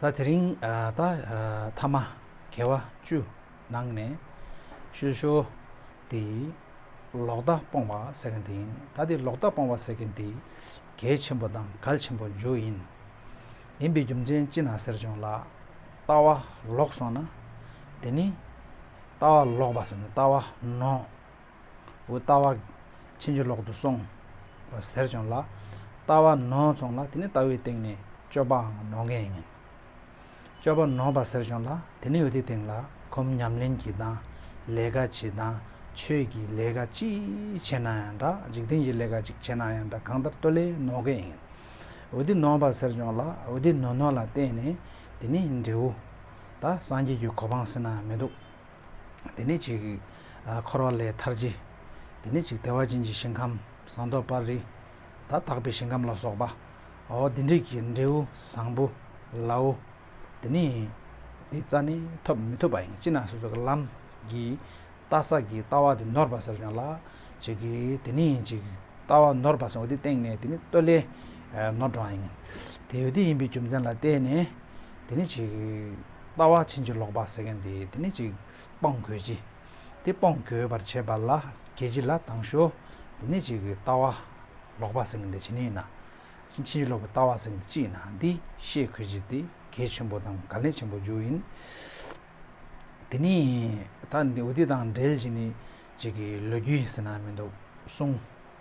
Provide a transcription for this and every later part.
ད་དེ་རིང་ད་ཐ་མ་གེ་བ་བཅུ་ནང་ནས་ཤོད་ཤོ། དེ་ཡི་ལོག་ལྟ་སྤོང་བ་ཟེར་གི་འདི་ཡིན་ད་དེ་ལོག་ལྟ་སྤོང་བ་ཟེར་གི་འདི་གལ་ཆེན་པོ་དང་གལ་ཆེན་པོ་འཇུག་ཡིན། ཡིན་པའི་རྒྱུ་མཚན་ཅི་ན་ཟེར་བྱུང་ལགས། ལྟ་བ་ལོག་སོང་ན་དེ་ནི་ལྟ་བ་ལོག་པ་ཟེར་ནས་ལྟ་བ་ནོར། འོ་ལྟ་བ། ཕྱིན་ཅི་ལོག་ཏུ་སོང། ཟེར་བྱུང་ལ། ལྟ་བ་ནོར་བྱུང་ལ་དེ་ནི་ལྟ་བའི་སྟེང་ནས་སྤྱོད་པའང་ནོར་མཁན་ཡིན། སྤྱོད་པ་ནོར་བ་ཟེར་བྱུང་ལ་དེ་ནི་འོད་དེའི་སྟེང་ལ་གོམས་ཉམས་ལེན་གྱི་དང་ལས་ཀ་བྱེད་དང་ཆོས་ཀྱི་ལས་ཀ་ཅི་བྱེད་ན་ཡང་འདྲ་འཇིག་རྟེན་གྱི་ལས་ཀ་ཅིག་བྱེད་ན་ཡང་འདྲ་གང་ལྟར་སྟོད་ལས་ནོར་མཁན་ཡིན། འོད་དེ་ནོར་བ་ཟེར་བྱུང་ལ་འོད་དེ་ནོར་ནོར་ལ་བརྟེན་ནས་དེ་ནི་འབྲས་བུ། ད་སངས་རྒྱས་ཀྱི་གོ་འཕང་ཟེར་ན་མི་འདུག། དེ་ནས་ཅིག། འཁོར་བ་ལས་ཐར་བྱེད། དེ་ནས་ཅིག་བདེ་བ་ཅན་གྱི་ཞིང་ཁམས་ཟངས་མདོག་དཔལ་རིས་དང་དག་པའི་ཞིང་ཁམས་ལ་སོགས་པ། འོ་དེ་འདྲས་ཀྱི་འབྲས་བུ་བཟང་པོ་ལའོ། དེ་ནི། དེའི་རྩ་ནི་ཐོབ་མི་ཐོབ་པ་ཡིན་ཅི་ན་སོ་སོའི་ལམ་གྱི། ལྟ་ས་ཀྱི་ལྟ་བ་དེ་ནོར་བ་ཟེར་བྱུང་ལ། ཅིག། དེ་ནི་ཅིག། ལྟ་བ་ནོར་བ་ཟེར་བ་དེའི་སྟེང་ནས་དེ་ནི་སྟོད་ལྭའི། ནོར་བགྲང་ཡིན། དེ་འོ་དེ་ཡིན་པའི་རྒྱུ་མཚན་ལ་བརྟེན་ནས། དེ་ནི་ཅིག། ལྟ་བ་ཕྱིན་ཅི་ལོག་པ་ཟེར་མཁན་དེ་དེ་ནི་ཅིག། སྤོང་དགོས་ཅི། དེ་སྤོང་དགོས་པར་བྱེད་པ་ལ་གལ་ཆེ་ལ་དང་ཞོ། དེ་ནི་ཅིག། ལྟ་བ་ལོག་པ་ཟེར་མཁན་དེ་ཇི་ནི་ཡིན་ན། ཕྱིན་ཅི་ལོག་པའི་ལྟ་བ་ཟེར་མཁན་དེ་ཅི་ཡིན་ན་འདི་ཤེས་དགོས་ཅི་དེ་གལ་ཆེན་པོ་དང་གལ་གནད་ཆེན་པོ་འཇུག་ཡིན། དེ་ནི་ད་འདི་འོ་དེ་དང་འབྲེལ་གྱི་ནི་ཅིག་ལོས་རྒྱུ་ཡིན་ཟེར་ན་མི་འདུག་གསུང།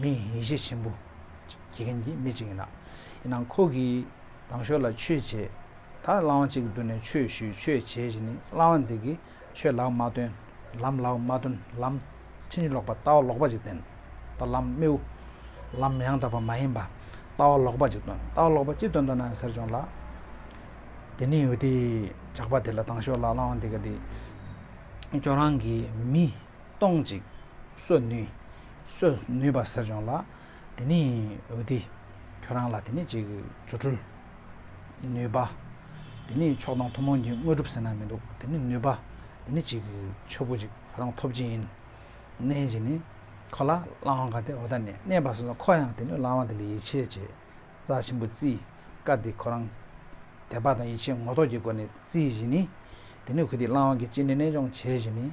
མི་ཡིན་ཤས་ཆེན་པོ་གྱིས་མཁན་གྱི་མི་གཅིག་ཡིན་ལ། ཡིན་ནའང་ཁོ་གིས་ལྡང་ཞོར་ལ་ཆོས་བྱེད་དག་བླང་བ་གཅིག་གི་མདུན་ནས་ཆོས་ཞུས་ཆོས་བྱས་བཞིན་ནི་བླང་བ་འདི་གིས་ཆོས་ལག་མ་སྟོན་ལམ་ལག་མ་སྟོན་ལམ་ཕྱིན་ཅི་ལོག་པ་ལྟ་བ་ལོག་པ་ཅིག་སྟོན་ལྟ་ལམ་རྨེའུ་ལམ་ཡང་དག་པ་མ་ཡིན་པ་ལྟ་བ་ལོག་པ་ཅིག་སྟོན་ལྟ་བ་ལོག་པ་ཅི་སྟོན་འདོད་ན་ཟེར་བྱུང་ལ། དེ་ནི་ཡུལ་དེའི་ཇག་པ་དེ་ལ་ལྡང་ཞོར་ལ་བླང་བ་འདི་ག་དེ་ཁྱོད་རང་གིས་མི། སྟོང་ཅིག། གསོད་ནུས། གསོད་ནུས་པ་ཟེར་བྱུང་ལ། དེ་ནི་འོས་ཏེ། ཁྱོད་རང་ལ་དེ་ནི་ཅིག་རྫུ་འཕྲུལ། ནུས་པ། དེ་ནི་མཆོག་དང་ཐུན་མོང་གི་དངོས་གྲུབ་ཟེར་ན་མི་འདུག་དེ་ནི་ནུས་པ། དེ་ནི་ཅིག་ཆོས་སྐུ་ཅིག་ཁྱོད་རང་ཐོབ་ཀྱི་ཡིན། གནས་ཀྱི་ནི། ཁོ་ལ་བླ་འོང་ག་དེ་འོ་ད་ནས་གནས་པ་སོ་སོ་ཁོ་ཡང་དེ་ནི་བླ་འོང་དེ་ལ་ཡིད་ཆེས་བྱེད། རྩ་ཆེན་པོ་རྩིས། བཀའ་འདི་ཁོ་རང། དད་པ་དང་ཡིད་ཆེས་ངོ་ཐོག་གི་སྒོ་ནས་རྩིས་བཞིན་ནི། དེ་ནི་གུས་འདུད་བླ་འོང་གི་སྤྱི་ནས་གནས་སྦྱོང་བྱེད་བཞིན་ནི།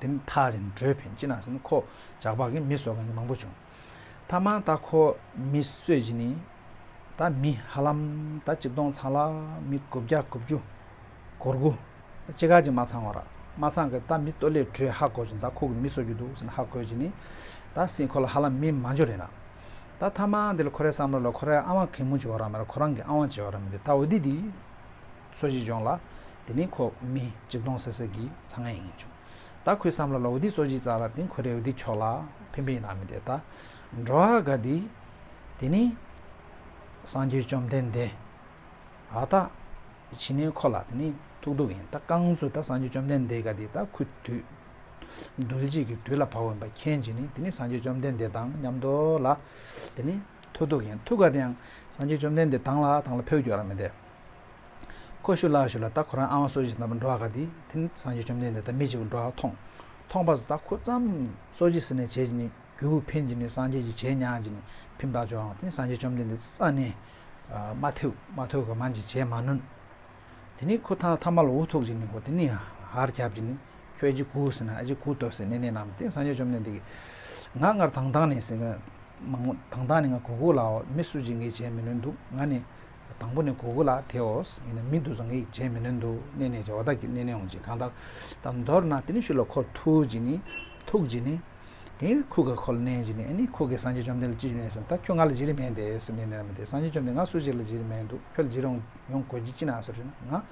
དེ་ནི་ཐག་རིང་བགྲོད་ཕན་ཅི་ནག་ཟིན་ཁོ་ཇག་བག་གིས་མི་གསོད་མཁན་མང་པོ་བྱུང། ད་མ་ད་ཁོ་མི་གསོད་བཞིན་ནི། ད་མི་ཧ་ལམ་ད་གཅིག་སྟོང་ཚང་ལ་མི་དགུ་བརྒྱ་དགུ་བཅུ། སྒོར་དགུ། ད་ཅི་ག་ཅིག་མ་ཚང་བ་ར་མ་ཚང་གི་ད་མི་སྟོད་ལས་བགྲོད་ཧ་གོ་བཞིན་ད་ཁོ་གི་མི་གསོད་རྒྱུ་འདུག་ཟིན་ཧ་གོས་བཞིན་ནི། ད་སྲིད་ཁོ་ལ་ཧ་ལམ་མི་མང་འཇོག་རེད་ན། ད་ཐ་མ་འདི་ལ་ཁོ་རའི་བསམ་བློ་ལ་ཁོ་རའི་ཨ་དབང་གད་མོ་བྱེད་བ་ར་མེད་ཁོ་རང་གི་ཨ་དབང་བྱེད་བ་ར་མེད་དེ་ད་འོ་དི་དི། ཚོ་གཅིག་བྱུང་ལ། དེ་ནི་ཁོ་མི་གཅིག་སྟོང་ཟེར་ཟེར་གྱིས་ཚང་ངེས་ཡིན་བྱུང། ད་ཁོས་བསམ་བློ་ལ་འོ་དི་ཚོ་གཅིག་བཙགས་ལ་དེང་ཁོ་རེ་འོ་དི་ཆོག་ལ་ཕན་པའི་ནང་མི་འདེད་ད། འགྲོ་ཨ་དགའ་འདི། དེ་ནི། སངས་རྒྱས་བཅོམ་ལྡན་འདས། ཨ་ད། ཕྱིན་ནས་ཁོ་ལ་དེ་ནི་ཐུག་དུག་ཡིན་ད་རྐང་ཚུགས་ད་སངས་རྒྱས་བཅོམ་ལྡན་འདས་དགའ་འདི་ད་ཁུ་དུས། རྡུལ་གཅིག་གི་དུས་ལ་བབ་འོན་པ་མཁྱེན་གྱིས་ནི་དེ་ནི་སངས་རྒྱས་བཅོམ་ལྡན་འདས་དང་མཉམ་འགྲོ་ལ། དེ་ནི་ཐུག་དུག་ཡིན་ཐུག་དགའ་དེ་ཡང་སངས་རྒྱས་བཅོམ་ལྡན་འདས་དང་ལ་དང་ལ་ཕོ་རྒྱོ་ར་མི་འདེད། ཁོ་ཤུ་ལ་ཤུ་ལ་ད་ཁོ་རང་ཨ་བ་སོ་བཞི་ཟིན་ན་འགྲོ་བ་ག་དེ་དེ་ནི་སངས་རྒྱས་བཅོམ་ལྡན་འདས་ད་མི་གཅིག་པུ་འགྲོ་བ་མཐོང། མཐོང་པ་སུ་ད་ཁོ་ཙམ་སོ་བཞི་ཟིན་ནས་བྱས་ཀྱི་ནི་རྒྱུ་འཕེན་གྱི་ནི་སངས་རྒྱས་ཀྱི་བྱས་ཉག་གི་ནི་ཕིམ་བདག་བྱོ་འང་དེ་ནི་སངས་རྒྱས་བཅོམ་ལྡན་འདས་ས་ནི་མ་ཐེའུ་མ་ཐོའུ་ག་མ་འཇིག་བྱས་མ་ནོན། དེ་ནི་ཁོ་ཐང་ཐ་མ་ལ་འུ་ཐུག་གྱི་ནི་ཧོ་དེ་ནི་ཧར་ཁྱབ་ཀྱི་ནི་ཁྱོད་གཅིག་གུ་ཟིན་ན་ཨ་ཅིག་གུ་དོ་ཟེ་ནས་ནས་རྣམས་དེ་སངས་རྒྱས་བཅོམ་ལྡན་འདས་ཀྱི་ང་སྔར་དང་ཐང་ནས་ཟིན་ང་དང་ཐང་ནས་ང་གུ་གུ་ལའོ་མི་སུ་གཅིག་ངས་བྱས་མི་ནོན་འདུག་ང་ནི། དང་པོ་ནི་གོ་དགུ་ལ་དེའོ། ཡིན་ན་མི་འདུག་བཟང་ངེས་ཀྱི་བྱས་མི་ནོན་འདུག་གནས་ནས་བྱ་བ་དག་གིས་གནས་ནས་འོང་ཅིང་གང་དག་དག་མདོར་ན་དེ་ནི་ཤུ་ལ་ཁོ་ཐུག་ཅིང་ནི་ཐུག་ཅིང་ནི། དེ་ནི་ཁུ་ག་ཁོ་ལ་གནས་ཅིང་ནི་ཨེ་ནི་ཁུ་གས་སངས་རྒྱས་བཅོམ་ལྡན་ལ་ཅི་བྱུང་ངས་སམ་ད་ཁྱོད་ང་ལ་བགྱི་རིན་མེད་དེ་སེམས་ནས་ནི་ར་མི་དེ་སངས་རྒྱས་བཅོམ་ལྡན་ང་སུ་ཞིག་ལ་བགྱི་རིན་མེད་འདུག་ཁྱོད་ལ་བགྱི་རུང་ཡོང་དགོས་ཀྱི་ཅི་ན་ཟེར་དུས་ན་ང།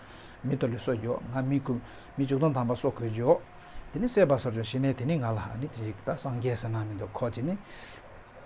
མི་དོ་ལི་སོ་རྒྱོ་ང་མི་དགུ་མི་བཅུ་སྟོང་ཐམ་པ་སོ་གོས་རྒྱོ། དེ་ནི་སྲེད་པ་སོར་རྒྱོ་ཞེས་ནས་དེ་ནི་ང་ལ་ཨ་ནི་ཅི་ཞིག་ད་སངས་རྒྱས་ཟེར་ན་མི་འདུག་ཁོ་ཅི་ནི།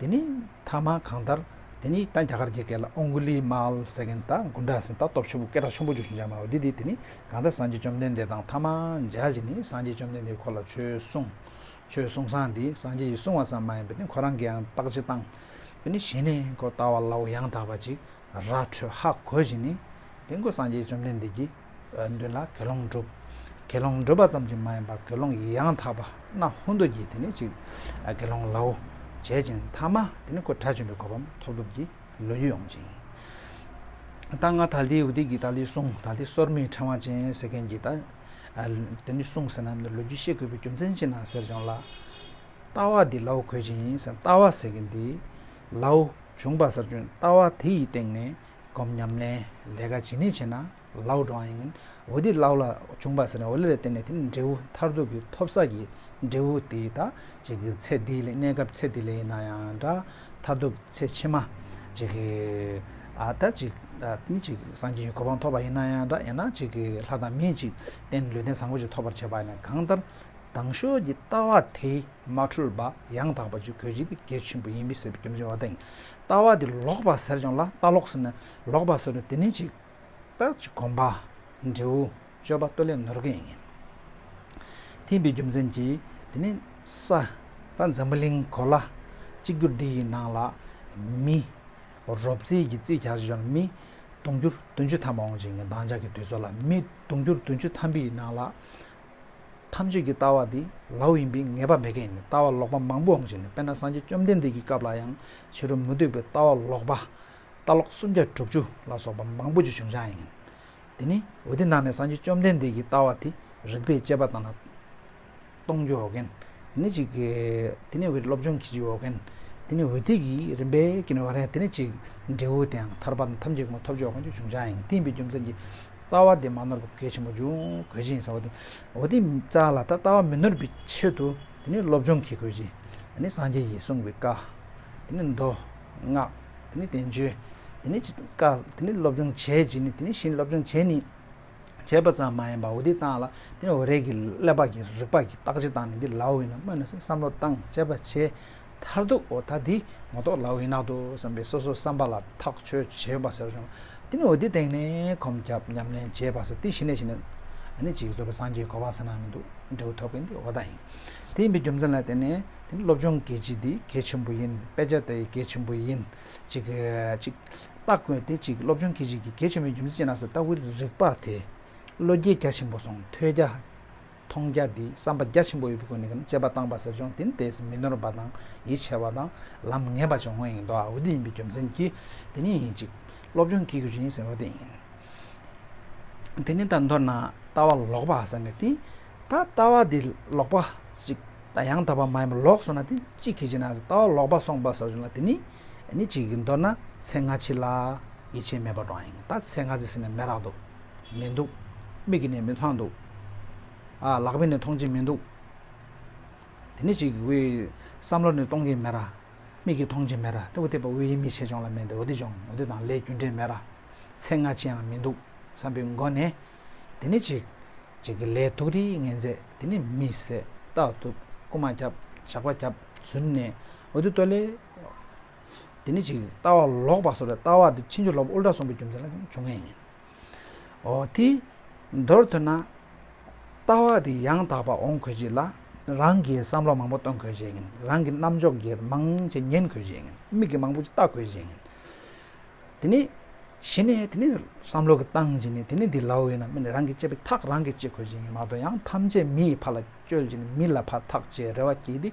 དེ་ནས་མཐའ་མ་གང་ལྟར་དེ་ནས་ད་རྒྱ་གར་གྱི་སྐད་ལ་ཨོང་གུ་ལི་མཱལ་ཟེར་མཁན་དང་དགུན་གྲགས་ཟིན་ད་སྟོབས་ཆེན་པོ་སྐད་གྲགས་ཆེན་པོ་རྗོད་བཞིན་འཇགས་མ་རོགས་འདི་དེ་དེ་ནས་གང་ལྟར་སངས་རྒྱས་བཅོམ་ལྡན་འདས་དང་མཐའ་མ་འཇགས་རྗེས་ནས་སངས་རྒྱས་བཅོམ་ལྡན་འདས་ཁོ་ལ་ཆོས་གསུངས། ཆོས་གསུངས་སངས་འདི་སངས་རྒྱས་ཀྱིས་གསུངས་བ་ཙམ་མ་ཡིན་པས་ནི་ཁོ་རང་གིའང་བརྟག་དཔྱད་བཏང། དེ་ནས་གཞི་ནས་ཁོ་ལྟ་བ་ལའོ་ཡང་དག་པ་ཅིག་ར་འཕྲོད་ཧ་གོ་བཞིན་ནི། དེང་ཁོས་སངས་རྒྱས་བཅོམ་ལྡན་འདས་ཀྱི། མདུན་ལ་དགེ་སློང་བསྒྲུབ། དགེ་སློང་བསྒྲུབ་པ་ཙམ་གྱིས་མ་ཡིན་པར་དགེ་སློང་ཡང་དག་པ་ན་ཧུན་དུ་གྱིས་དེ་ནི་གཅིག། དགེ་སློང་ལའོ། བྱེད་ཅིང་ཐ་མ་དེ་ནི་ཁོ་དགྲ་བཅོམ་པའི་གོ་བའམ་ཐོབ་སྒྲུབ་ཀྱི་ལོ་རྒྱུས་ཡོང་ཅིང། ད་ང་ད་ལྟའི་ཨུ་ཏི་ཀི་ཏཱ་ལའི་གསུང་ད་ལྟའི་སོར་མོའི་ཕྲེང་བ་ཅན་ཟེར་མཁན་གྱི། དེ་ནི་གསུང་ཟེར་ན་ལོ་རྒྱུས་བཤད་དགོས་པའི་རྒྱུ་མཚན་ཅི་ན་ཟེར་བྱུང་ལ། ལྟ་བ་འདི་ལའོ་གོ་བཞིན་ཡིན་ཟེར་ལྟ་བ་ཟེར་མཁན་དེ། ལའོ། བྱུང་བ་གསར་བྱོན་ལྟ་བ་དེ་ཡི་སྟེང་ནས་སྒོམ་ཉམས་ལེན་ལས་ཀ་ཇི་ནས་བྱས་ན་ལའོ་འགྲོ་བ་ཡིན། འོ་དེ་ལའོ་ལ་བྱུང་བ་ཟེར་ན་འོ་ལས་ལ་བརྟེན་ནས་དེ་ནི་འབྲས་བུ་མཐར་ཐུག་གི་ཐོབ་ས་ཀྱི་འབྲས་བུ་དེ་ད་ཅིག་གི་ཚེ་འདི་ལས་གནས་སྐབས་ཚེ་འདི་ལས་ཡིན་ན་ཡང་འདྲ་མཐར་ཐུག་གི་ཚེ་ཕྱི་མ་ཅིག་གི་ད་ཅིག་ནི་ཅིག་སངས་རྒྱས་ཀྱི་གོ་འཕང་ཐོབ་པ་ཡིན་ན་ཡང་འདྲ་ཡང་ན་ཅིག་གི་ལྷ་དང་མིས་ཅིག་བསྟེན་ལུས་རྟེན་བཟང་པོ་ཅིག་ཐོབ་པར་བྱེད་པ་ཡིན་ན་གང་ལྟར་དྭངས་ཤོས་ཀྱི་ལྟ་བ་དེ། མ་འཁྲུལ་པ་ཡང་དག་པ་བཅུ་གོ་བཞི་ནི་གལ་ཆེན་པོ་ཡིན་མི་སྲིད་པའི་རྒྱུ་མཚན་བ་དན་ལྟ་བ་འདི་ལོག་པ་ཟེར་ཀྱང་ལ་ལྟ་ལོག་ཟེར་ན་ལོག་པ་ཟེར་ནས་དེ་ནི་ཅིག་ལྟ་ཅིག་གོམས་པ། འབྲས་བུ་དཔྱོད་པ་ལྟོས་ལས་ནོར་གྱི་ཡིན། ཐིམ་པའི་རྒྱུ་མཚན་གྱིས་དེ་ནི་ས་དང་འཛམ་བུ་གླིང་གོ་ལ་གཅིག་གྱུར་འདི་ཡི་ནང་ལ་མི། རོབ་རྩེད་ཀྱི་རྩེད་ག་གཞི་ལ་མི། དུང་འགྱུར་བདུན་ཅུ་ཐམ་པ་འོང་ཅིང་འདང་རྒྱག་གི་དུས་ཚོད་ལ་མི་དུང་འགྱུར་བདུན་ཅུ་ཐམ་པའི་ནང་ལ། ཐམས་ཅད་ཀྱི་ལྟ་བ་དེ་ལའོ་ཡིན་པས་ངེས་པ་མེད་མཁན་ནི་ལྟ་བ་ལོག་པ་མང་པོའང་ཞིག་ལས་དཔེར་ན་སངས་རྒྱས་བཅོམ་ལྡན་འདས་ཀྱི་སྐབས་ལ་ཡང་ཕྱི་རོལ་མུ་སྟེགས་པའི་ལྟ་བ་ལོག་པ། ལྟ་ལོག་སུམ་བརྒྱ་དྲུག་ཅུ་ལ་སོགས་པ་མང་པོ་ཅིག་བྱུང་བྱང་ཡིན། དེ་ནི་འོད་དེ་ནང་ནས་སངས་རྒྱས་བཅོམ་ལྡན་འདས་ཀྱི་ལྟ་བ་དེ་རིགས་པས་དཔྱད་པ་དང་ལ་སྟོང་རྒྱུ་འོ་རྒན་དེ་ནི་ཅིག། དེ་ནི་འོད་སློབ་སྦྱོང་གི་རྒྱུ་འོ་རྒན་དེ་ནི་འོད་དེ་གིས་རིམ་པས་རྒྱུ་འོ་རྒན་དེ་ནི་ཅིག། འབྲས་བུ་དེའང་ཐར་པ་དང་ཐམས་ཅད་ཀྱི་ངོ་ཐོབ་རྒྱུ་འོ་རྒན་རྒྱུ་བྱུང་བྱང་ཡིན་གཏན་དཔེའི་རྒྱུ་མཚན་གྱི་ལྟ་བ་དེ་མ་ནོར་བའི་གོ་སྐལ་ཆེན་པོ་འབྱུང་དགོས་ཅིང་བསམ་པ་དེ་འོ་དེ་རྩ་ལ་ད་ལྟ་བ་མི་ནོར་བའི་ཆེད་དུ་དེ་ནི་སློབ་སྦྱོང་གི་དགོས་ཅིང་དེ་ནི་སངས་རྒྱས་ཀྱིས་གསུངས་པའི་བཀའ་དེ་ནི་མདོ་སྔགས་དེ་ནི་བསྟན་བཅོས་དེ་ནི་ཅི་བཀའ་དེ་ནི་སློབ་སྦྱོང་བྱེད་ཅིང་ནི་དེ་ནི་བཞིན་སློབ་སྦྱོང་བྱེད་ནི་བྱེད་པ་ཙམ་མ་ཡིན་པ་འོ་དེ་བཏང་ལ་དེ་ནི་འོ་རེ་གི་ཀླད་པ་གི་རིག་པ་གི་རྟགས་ཅི་བཏང་ནི་འདི་ལའོ་ཡིན་ནོ་སྨོས་ནས་བསམ་བློ་བཏང་དཔྱད་པ་བྱས། མཐར་ཐུག་འོ་ད་འདི་མ་གཏོགས་ལ་འི་ན་འདུག་བསམ་པའི་སོ་སོ་བསམ་པ་ལ་ཐག་ཆོད་བྱེད་པ་ཟེར་བྱུང། དེ་ནི་འོ་དེ་སྟེང་ནས་གོམས་ཁྱབ་ཉམས་ལེན་བྱེད་པ་ཟེར་དེ་གཞི་ནས་གཞི་ནས་ནི་ཅིག་རྫོགས་པའི་སངས་རྒྱས་གོ་བ་ཟེར་ན་མི་འདུག་འབྲས་བུ་ཐོབ་མཁན་དེ་འོ་ད་ཡིན། དེ་ཡིན་པའི་རྒྱུ་མཚན་ལ་བརྟེན་ནས་དེ་ནི་སློབ་སྦྱོང་གལ་ཆེ་འདི་གལ་ཆེན་པོ་ཡིན་དཔེ་ཆ་དེ་གལ་ཆེན་པོ་ཡིན། ཅིག། ལྟ་དགོས་དེ་ཅིག་སློབ་སྦྱོང་གལ་ཆེ་འདི་གལ་ཆེན་པོའི་རྒྱུ་མཚན་ཅི་ན་ཟེར་ལྟ་བུའི་རིག་པ་དེ་བློ་རྒྱས་རྒྱ་ཆེན་པོ་སོང་ཐོས་རྒྱ་མཐོང་རྒྱ་འདིས་བསམ་པ་རྒྱ་ཆེན་པོ་ཡོད་པའི་སྒོ་ནས་དཔྱད་པ་བཏང་པ་ཟེར་བྱུང་དེ་ནི་དེས་མི་ནོར་བ་དང་ཡིད་ཆེས་བ་དང་ལམ་ངེས་པ་བྱུང་ངོ་ཡིན་མདོག་འོ་དེ་ཡིན་པའི་རྒྱུ་མཚན་གྱིས་དེ་ནི་ཡིན་ཅིག་སློབ་སྦྱོང་བགྱིད་དགོས་ཀྱི་ཡིན་ཟེར་བ་དེ་ཡིན། དེ་ནི་ད་མདོར་ན་ལྟ་བ་ལོག་པ་ཟེར་ནས་དེ་ད་ལྟ་བ་འདི་ལོག་པ་ཅིག་ད་ཡང་དག་པ་མ་ཡིན་པ་ལོག་སོང་ན་དེ་ཅི་གིས་བྱས་ན་ཟེར་ལྟ་བ་ལོག་པ་སོང་པ་ཟེར་བྱུང་ལ་དེ་ནི་ནི་ཅིག་གིས་མདོར་ན་ཚེ་སྔ་ཕྱི་ལ་ཡིད་ཆེས་མེད་པ་འགྲོ་བ་ཡིན་ད་ཚེ་སྔ་ཚེ་ཟེར་ནས་མེད་རག་འདུག། མི་འདུག། མིག་གིས་ནི་མི་མཐོང་འདུག། ཨ། ལག་པས་ནི་མཐོང་གྱིན་མི་འདུག། དེ་ནི་ཅིག་དབུས། བསམ་བློར་ནི་གཏོང་གིན་མེད། མིག་གིས་མཐོང་གྱིན་མེད། དེ་འོ་དེ་པ་དབུས་ཡིན་མི་བྱེད་ཅོང་ལ་མེད་འདུག་འོ་དེ་ཅོང་འོ་དེ་དང་ལས་རྒྱུ་འབྲས་མེད། ཚེ་སྔ་ཅི་ཡང་མི་འདུག་བསམ་པའི་མགོ་ནས། དེ་ནི་ཅིག། ཅིག་གི་ལས་འདུག་རིགས་ངན་མཛད་དེ་ནི་མི་བཟད། རྟག་ཏུ་རྐུ་མ་རྒྱབ་ཇག་པ་རྒྱབ་བརྫུན་ནས་འོ་དེ་ལྟོས་ལེ། དེ་ནི་ཅིག་ལྟ་བ་ལོག་པ་བཟོ་བའི་ལྟ་བ་དེ་ཕྱིན་ཅི་ལོག་པའི་དབུལ་སྒྲ་གསུམ་པོ་རྒྱུ་མཚན་ལ་ཡང་འཇུག་ངེས་ཡིན། ཨོ་དེ། མདོར་ཐོས་ན། ལྟ་བ་དེ་ཡང་དག་པ་འོང་དགོས་ཀྱི་ལ། རང་གི་བསམ་བློ་མང་པོ་གཏོང་དགོས་ཀྱི། རང་གི་རྣམ་འཇོག་གི་མང་ཅིག་ཉན་དགོས་ཀྱི། མིག་གི་མང་པོ་ཅིག་ལྟ་དགོས་ཀྱི། དེ་ནི། གཞི་ནས་དེ་ནི་བསམ་བློ་གི་སྟངས་ཀྱིས་ནི་དེ་ནི་འདི་ལའོ་ཡིན་ན་མི་ནི་རང་གི་སྤྱད་པའི་ཐག་རང་གིས་བཅད་དགོས་ཀྱི་ཡིན་མ་གཏོགས་ཡང་ཐམས་ཅད་མི་ཡི་ཕ་ལ་བཅོལ་གྱི་ནི་མི་ལ་ཕ་ཐག་བཅད་རེ་བ་བགྱིས་ཏེ།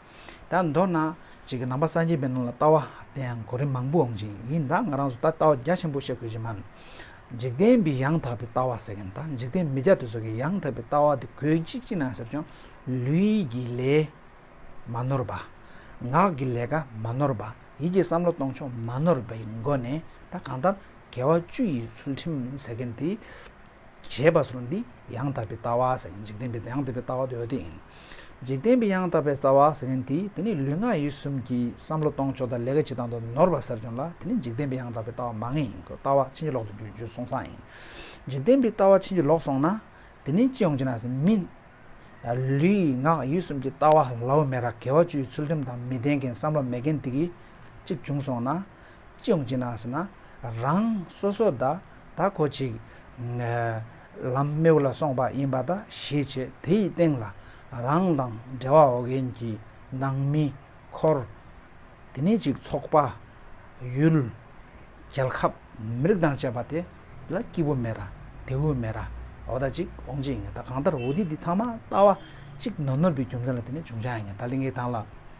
ད་མདོར་ན། བྱེས་ཀྱི་ནང་པ་སངས་རྒྱས་པའི་ནང་ལ་ལྟ་བ་དེ་ཡང་གོ་རིམ་མང་པོ་འོང་གྱི་ཡིན་ད་ང་རང་ཚོ་ད་ལྟ་བ་རྒྱ་ཆེན་པོ་བཤད་དགོས་ཀྱི་མ་རེད། འཇིག་རྟེན་པའི་ཡང་དག་པའི་ལྟ་བ་ཟེར་མཁན་དང་འཇིག་རྟེན་མི་རྒྱ་དེ་ཚོ་གི་ཡང་དག་པའི་ལྟ་བ་དེ་གོས་གཅིག་ཅིག་ན་ཟེར་ཀྱང་ལུས་ཀྱི་ལས་མ་ནོར་བ། ངག་གི་ལས་ཀ་མ་ནོར་བ་ཡིད་ཀྱི་བསམ་བློ་གཏོང་ཕྱོགས་མ་ནོར་བའི་སྒོ་ནས་ད་གང་ལྟར་དགེ་བ་བཅུ་ཡི་ཚུལ་ཁྲིམས་ཟེར་མཁན་དེ། ཞེས་པ་སོགས་ནི་ཡང་དག་པའི་ལྟ་བ་ཟེར་ཡང་འཇིག་རྟེན་པའི་ཡང་དག་པའི་ལྟ་བ་དེ་འོད་དེ་ཡིན། འཇིག་རྟེན་པའི་ཡང་དག་པའི་རྩ་བ་ཟེར་མཁན་དེས་དེ་ནི་ལུས་ངག་ཡིད་གསུམ་གྱི་བསམ་བློ་གཏོང་ཕྱོགས་དང་ལས་ཀ་བྱེད་སྟངས་དུ་ནོར་བ་ཟེར་བྱུང་ལ་དེ་ནི་འཇིག་རྟེན་པའི་ཡང་དག་པའི་ལྟ་བ་མ་ངེས་ཡིན་ལྟ་བ་ཕྱིན་ཅི་ལོག་ཏུ་འགྱུར་སོང་ཙང་ཡིན། འཇིག་རྟེན་པའི་ལྟ་བ་ཕྱིན་ཅི་ལོག་སོང་ན་དེ་ནི་ཅི་ཡོང་ཅི་ན་ཟེར་མིན། ལུས་ངག་ཡིད་གསུམ་གྱི་ལྟ་བ་ལའོ་མེད་ར་གལ་བ་བཅུའི་ཚུལ་ཁྲིམས་དང་མི་ལྡན་མཁན་བསམ་བློ་མེད་མཁན་དེ་གིས་གཅིག་བྱུང་སོང་ན། ཅི་ཡོང་ཅི་གནང་ཟེར་ན། རང་སོ་སོ་ད་ད་ཁོ་ཅིག། ལམ་རྨེའུ་ལ་སོང་པ་ཡིན་པ་ད་ཤེས་བྱས་དེ་ཡི་སྟེང་ལ། རང་དང་འབྲེལ་བ་འོག་མཁན་གྱི་ནང་མི། འཁོར། དེ་ནས་ཅིག་ཚོགས་པ། ཡུལ། རྒྱལ་ཁབ། མི་རིགས་དང་བཅས་པ་དེ་ལ་སྐྱིད་པོ་མེད་ར་དེ་འུ་མེད་ར་འོ་ད་ཅིག་འོང་ཅིག་ཡིན་ད་གང་ལྟར་འུ་དེ་དེ་ཚང་མ་ལྟ་བ་ཅིག་ནོར་ནོར་བུའི་རྒྱུ་མཚན་ལ་དེ་ནས་བྱུང་བྱ་ཡིན་ད་ལིང་གའི་ཐང་ལ།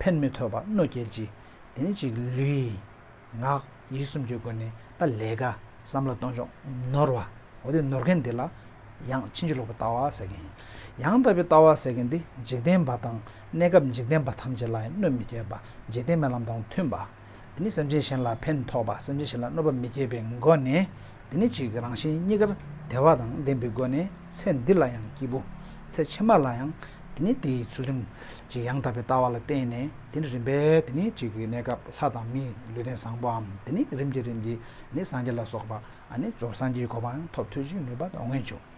ཕན་མི་ཐོགས་པ་རྣོ་རྒྱལ་གྱིས་དེ་ནི་ཅིག་ལུས། ངག། ཡིད་གསུམ་གྱི་སྒོ་ནས་ད་ལས་ཀ་བསམ་བློ་གཏོང་ཕྱོགས་ནོར་བ། འོ་དེ་ནོར་མཁན་དེ་ལ་ཡང་ཕྱིན་ཅི་ལོག་པའི་ལྟ་བ་ཟེར་གྱིན། ཡང་དག་པའི་ལྟ་བ་ཟེར་གྱིན་དེ་འཇིག་རྟེན་པ་དང་གནས་སྐབས་འཇིག་རྟེན་པ་ཐམས་ཅད་ལ་ཡང་གནོད་མི་བསྐྱལ་པ་འཇིག་རྟེན་པའི་ལམ་དང་མཐུན་པ། འདི་ནི་སེམས་ཅན་གཞན་ལ་ཕན་ཐོགས་པ་སེམས་ཅན་གཞན་ལ་གནོད་པ་མི་སྐྱེད་པའི་སྒོ་ནས་འདི་ནི་གཅིག་རང་བཞིན་གཉིས་ཀར་བདེ་བ་དང་ལྡན་པའི་སྒོ་ནས་ཚེ་འདི་ལ་ཡང་སྐྱིད་པོ། ཚེ་ཕྱི་མ་ལ་ཡང་འདི་ནི་དེའི་ཚུལ་རིམ་གཅིག་ཡང་དག་པའི་ལྟ་བ་ལ་བརྟེན་ནས་འདི་ནི་རིམ་པས་འདི་ནི་གཅིག་གི་གནས་སྐབས་ལྷ་དང་མིའི་ལུས་རྟེན་བཟང་པོའམ་འདི་ནི་རིམ་གྱིས་རིམ་གྱིས་ནི་སངས་རྒྱས་ལ་སོགས་པ་ནི་རྫོགས་སངས་རྒྱས་ཀྱི་གོ་འཕང་ཐོབ་ཐོས་ཀྱི་ནུས་པ་དངོས་འབྱུང།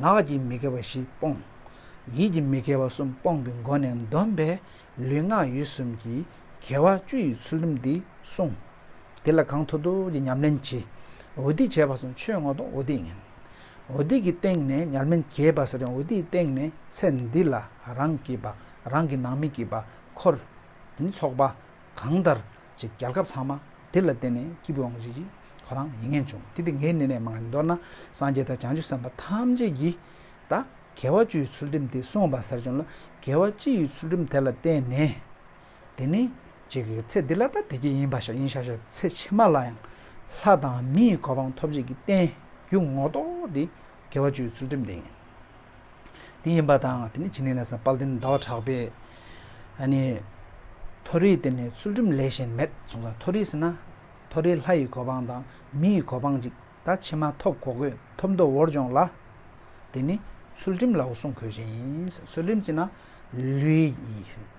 ངག་གི་མི་དགེ་བ་བཞི་སྤོང། ཡིད་ཀྱི་མི་དགེ་བ་གསུམ་སྤོང་གི་སྒོ་ནས་འདོམས་པས་ལུས་ངག་ཡིད་གསུམ་གྱི་དགེ་བ་བཅུ་ཡི་ཚུལ་ཁྲིམས་འདི་བསྲུང། དེ་ལ་གང་མཐོ་ཐུགས་ཀྱི་ཉམས་ལེན་གྱིས་འོ་སྡིག་བྱས་པ་གསུམ་ཆོས་སྔོན་དུ་འོ་སྡིག་ཡིན། འོ་སྡིག་གི་སྟེང་ནས་ཉམས་ལེན་གྱིས་བ་ཟེར་ཡང་འོ་སྡིག་གི་སྟེང་ནས་ཚེ་འདི་ལ་རང་གིས་པ་རང་གི་ནང་མི་གིས་པ་འཁོར། དེ་ནི་ཚོགས་པ་གང་ལྟར། ཅེས་རྒྱལ་ཁབ་ཚང་མ་དེ་ལ་བརྟེན་ནས་སྐྱིད་པོ་ཡོང་རིགས་ཁོ་རང་ཡིན་ངེས་བྱུང་དེ་དེ་ངའི་གནས་ནས་མ་འདོར་ན་སངས་རྒྱས་དང་བྱང་ཆུབ་སེམས་དཔའ་ཐམས་ཅད་ཀྱིས་ད་གལ་བ་བཅུ་ཡི་ཚུལ་ཁྲིམས་དེ་སྲུང་བ་ཟེར་བྱུང་ལ་གལ་བ་གཅིག་ཡི་ཚུལ་ཁྲིམས་དེ་ལ་བརྟེན་ནས་དེ་ནི་གཅིག་གི་ཚེ་འདི་ལ་ད་དེ་གྱི་ཡིན་པ་ཞིག་ཡིན་ཤག་ཤག་ཚེ་ཕྱི་མ་ལ་ཡང་ལྷ་དང་མིའི་གོ་འཕང་ཐོབ་བྱེད་ཀྱི་བརྟེན་རྒྱུ་ངོ་གཏོགས་དེ་གལ་བ་བཅུ་ཡི་ཚུལ་ཁྲིམས་དེ་ཡིན། དེ་ཡིན་པ་དང་དེ་ནས་ཕྱི་ནས་ལ་ས་དཔལ་ལྡན་ཟླ་བ་གྲགས་པས། མཐོ་རིས་དེ་ནས་ཚུལ་ཁྲིམས་ལས་གཞན་མེད་གསུངས་སོ། མཐོ་རིས་ན། མཐོ་རིས་ལྷ་ཡི་གོ་འཕང་དང་མི་ཡི་གོ་འཕང་ཅིག་ད་ཕྱིན་མ་ཐོབ་གོ་གོས་ཐོབ་མདོ་བོར་སྦྱོངས་ལ། དེ་ནི་ཚུལ་ཁྲིམས་ལའོ་གསུངས་གོས་ཅན་ཡིན། ཚུལ་ཁྲིམས་ཅན་ན། ལུས་ཡིད་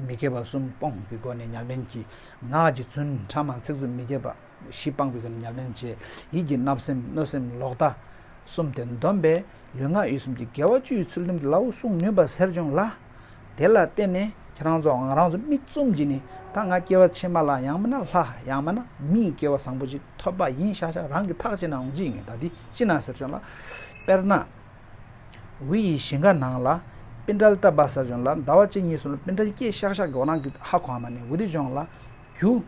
མི་དགེ་བ་གསུམ་སྤོང་བའི་སྒོ་ནས་ཉམས་ལེན་གྱིས་ངག་གི་བརྫུན་ཕྲ་མ་ཚིག་རྩུབ་མི་བརྒྱབ་པ། གཞི་སྤངས་པའི་ཉམས་ལེན་བྱས། ཡིད་ཀྱི་བརྣབ་སེམས་གནོད་སེམས་ལོག་ལྟ། གསུམ་སྟེ་འདོམས་པས་ལུས་ངག་ཡིད་གསུམ་གྱི་དགེ་བ་བཅུའི་ཚུལ་ཁྲིམས་སླ་བོ་སྲུང་ནུས་པ་གསེར་འབྱུང་ལ། དེ་ལ་བརྟེན་ནས་ཁྱེད་རང་ཚོ་ང་རང་ཚོ་མིག་བཙུམ་གྱིས་ནི་ད་ང་སྐྱེ་བ་ཕྱི་མ་ལ་ཡང་མིན་ན་ལྷ་ཡང་མིན་ན་མིའི་སྐྱེ་བ་བཟང་པོ་ཅིག་ཐོབ་པ་ཡིན་ཤག་ཤག་རང་གི་ཐག་ཅི་ན་འོང་ཅི་ཡིན་ད་འདི་ཅི་ན་གསེར་འབྱུང་ལ། དཔེར་ན། འི་ཡི་ཞིང་ཁ་ནང་ལ་སྤིན་དགྲལ་བཏབ་པ་གསེར་འབྱུང་ལ་ཟླ་བ་གཅིག་གཉིས་སོང་ལ་སྤིན་དགྲལ་སྐྱེས་ཤག་ཤག་གི་འོ་ན་གི་ཧ་གོ་བ་མ་ནི་འི་འདི་འབྱུང་ལ། རྒྱུ།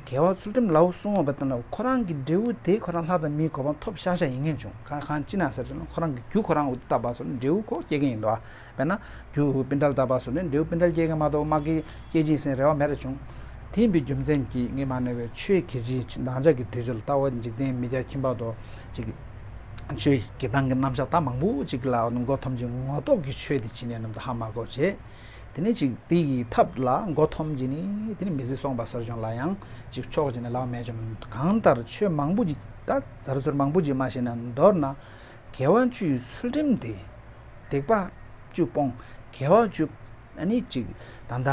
གལ་བ་ཚུལ་ཁྲིམས་ལའོ་སྲུང་བ་བ་དན་ལ་ཁོ་རང་གི་འབྲས་བུ་དེ་ཁོ་རང་ལྷ་དང་མིའི་གོ་འཕང་ཐོབ་ཤག་ཤག་ཡིན་ངེས་བྱུང་ཁ་གང་ཅི་ན་ཟེར་ཚུལ་ཁོ་རང་གི་རྒྱུ་ཁོ་རང་འུ་ཐུག་ད་བར་སོར་ནས་འབྲས་བུ་ཁོ་སྐྱེ་གིན་ཡིན་འདུག་ཨ་བས་ན་རྒྱུ་འུ་སྤི་འདྲལ་ད་བར་སོར་ནས་འབྲས་བུ་སྤི་འདྲལ་སྐྱེ་གིན་མ་གཏོགས་མ་སྐྱེ་སྐྱེ་གྱིན་ཟིན་རེ་བ་མེད་རེ་བྱུང། དེ་ཡིན་པའི་རྒྱུ་མཚན་གྱིས་ངས་མ་ནོར་བའི་ཆོས་ཁྱེད་ཀྱིས་འདང་ཆགས་ཀྱི་དུས་ཚོད་ལ་ལྟ་བ་འཇིག་རྟེན་མི་རྒྱ་ཁྱིམ་བར་དོ་གཅིག་གི་ཆོས་ཀྱི་འདང་གི་རྣམ་གཞག་ད་མང་པོ་ཅིག་ལ་མགོ་འཐོམས་ཀྱི་ངོ་རྟོགས་ཀྱི་ཆོས་དེ་བྱིན་ནས་ནམ་ད་ཧ་མ་གོ་བྱེད། དེ་ནས་ཅིག་དེ་ཡི་ཐབས་ལ་མགོ་འཐོམ་གྱིས་ནི་དེ་ནི་མི་བཟད་སོང་བ་སོར་བྱུང་ལ་ཡང་ཅིག་ཕྱོགས་གཅིག་ནས་ལག་མེད་བཅོམ་གང་ལྟར་ཆོས་མང་པོ་གྱིས་ད་ཛར་ཟུར་མང་པོ་གྱིས་མ་ཤེས་ན་མདོར་ན་དགེ་བ་བཅུའི་ཚུལ་ཁྲིམས་དེ། སྡིག་པ་བཅུ་སྤོང་དགེ་བ་བཅུ། ནི་ཅིག་ད་ད་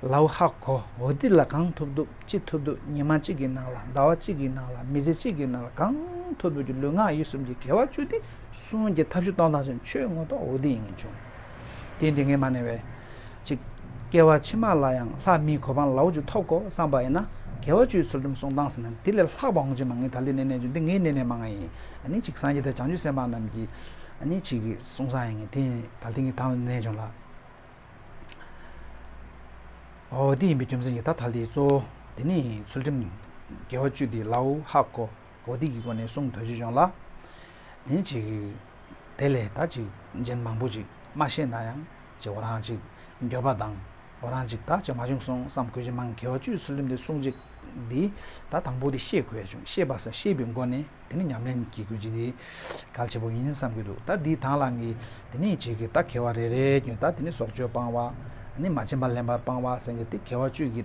ལའུ་ཧ་གོ་འོ་འདི་ལ་གང་ཐུབ་ཐུབ་ཅི་ཐུབ་ཐུབ་ཉི་མ་གཅིག་གི་ནང་ལ་ཟླ་བ་གཅིག་གི་ནང་ལ་མི་ཚེ་གཅིག་གི་ནང་ལ་གང་ཐུབ་ཐུབ་ཀྱི་ལུས་ངག་ཡིད་གསུམ་གྱི་དགེ་བ་བཅུ་དེ་གསུམ་གྱི་ཐབས་བཞི་སྟོང་དང་ཆོས་ངོ་ཐོག་འོ་འདི་ཡིན་ངེས་བྱུང། དེས་འདི་ངས་མ་ནས་བས། ཅིག། བསྐལ་བ་ཕྱི་མ་ལ་ཡང་ལྷ་མིའི་གོ་འཕང་ལ་འོ་ཆུ་ཐོབ་གོ་བསམ་པ་ཡིན་ན། དགེ་བ་བཅུའི་ཚུལ་ཁྲིམས་སྲུང་སྟངས་ཟིན་ན་འདི་ལས་ལྷག་པ་འོང་ཆེད་མ་ངའི་ད་ལྟའི་གནས་གནས་ཆུ་འདི་ངའི་གནས་གནས་མ་ང་ཡིན། ནི་ཅིག་སངས་རྒྱས་དང་བྱང་ཆུབ་སེམས་དཔའ་རྣམས་ཀྱི། ནི་ཅིག་གསུང་སངས་ཡིན་ངེས་དེ་ཡིན་ད་ལྟའི་ངའི་དང་ལ་གནས་ཆུང་ལ། འོ་འོ་འདི་ཡིན་པའི་རྒྱུ་མཚན་གྱིས་ད་ད་ལྟའི་གཙོ་བོ་འདི་ནི་ཡིན་ཚུལ་ཁྲིམས། དགེ་བ་བཅུ་འདི་ལ་འོ་ཧ་གོ། གོ་ཐིག་གི་སྒོ་ནས་གསུང་དོན་ཅི་བྱུང་ལ། དེ་ནི་ཅིག། དེ་ལས་ད་ཅིག་རྒྱན་མང་པོ་ཅིག་མ་ཤེས་ན་ཡང་ཅིག་འོ་རང་ཅིག་འགྱོད་པ་དང་འོ་རང་ཅིག་དག་ཅིག་མ་བྱུང་སོང་བསམ་གོ་ཅི་མང་གེ་བ་བཅུའི་ཚུལ་ལུམ་དེ་གསུང་ཅིག་འདི་ད་དང་པོ་དེ་ཤེས་དགོས་བྱུང་ཤེས་པ་ས་ཤེས་པའི་སྒོ་ནས་དེ་ནི་ཉམས་ལེན་གྱི་གོ་ཅིག་འདི་གལ་ཆེ་པོ་ཡིན་བསམ་གྱི་འདུག་ད་འདི་དང་ལ་གི་དེ་ནི་ཅིག་ད་གེ་བ་རེ་རེའི་རྒྱུན་ད་དེ་ནི་སྲོག་གཅོད་སྤང་བ་ནི་མ་བྱིན་པ་ལེན་པར་སྤང་བ་སེང་གེ་སྟེ་གེ་བ་བཅུ་གི།